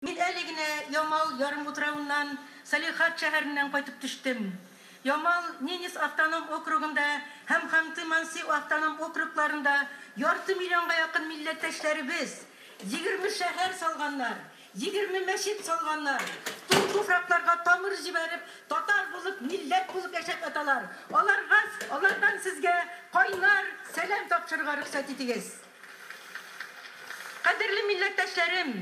Мин әле генә Ямал ярымутравыннан, Салихард шәһәреннән кайтып төштем. Ямал, Ненец автоном округында һәм Ханты-Манси автоном округларында ярты миллионга якын милләттәшләребез, егерме шәһәр салганнар, егерме мәчет салганнар, туң туфракларга тамыр җибәреп, татар булып, милләт булып яшәп яталар. Аларга, алардан сезгә кайнар сәлам тапшырырга рөхсәт итегез. Кадерле милләттәшләрем!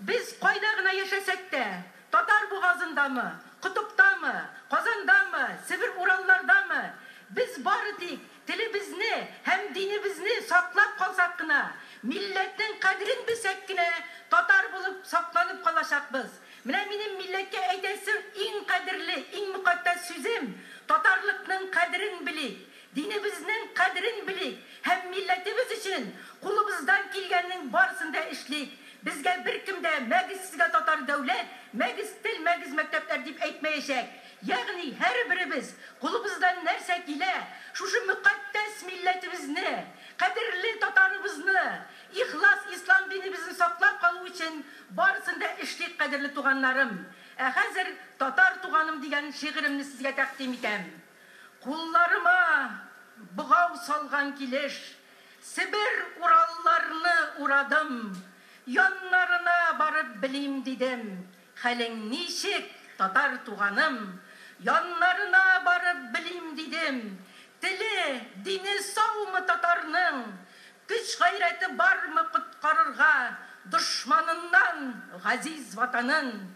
Без кайда гына яшәсәк тә, Татар бугазындамы, Котыптамы, Казандамы, Себер-Ураллардамы, без бары тик телебезне һәм динебезне саклап калсак кына, милләтнең кадерен белсәк кенә, татар булып сакланып калачакбыз. Менә минем милләткә әйтәсе иң кадерле, иң мөкатдәс сүзем, татарлыкның кадерен белик, Динебезнең кадерен белик һәм милләтебез өчен кулыбыздан килгәннең барысын да эшлик. Безгә беркем дә мәгез сезгә татар дәүләт, мәгез тел, мәгез мәктәпләр дип әйтмәячәк. Ягъни һәрберебез кулыбыздан нәрсә килә, шушы мөкатдәс милләтебезне, кадерле татарыбызны, ихлас ислам динебезен саклап калу өчен барысын да эшлик, кадерле туганнарым. Ә хәзер Татар туганым дигән шигыремне сезгә тәкъдим итәм. Кулларыма богау салган килеш, Себер уралларны урадым. Яннарына барып белим дидем, Хәлең ничек, татар туганым? Яннарына барып белим дидем, Теле, дине саумы татарның? Көч-гайрәте бармы коткарырга Дошманыннан газиз Ватанын?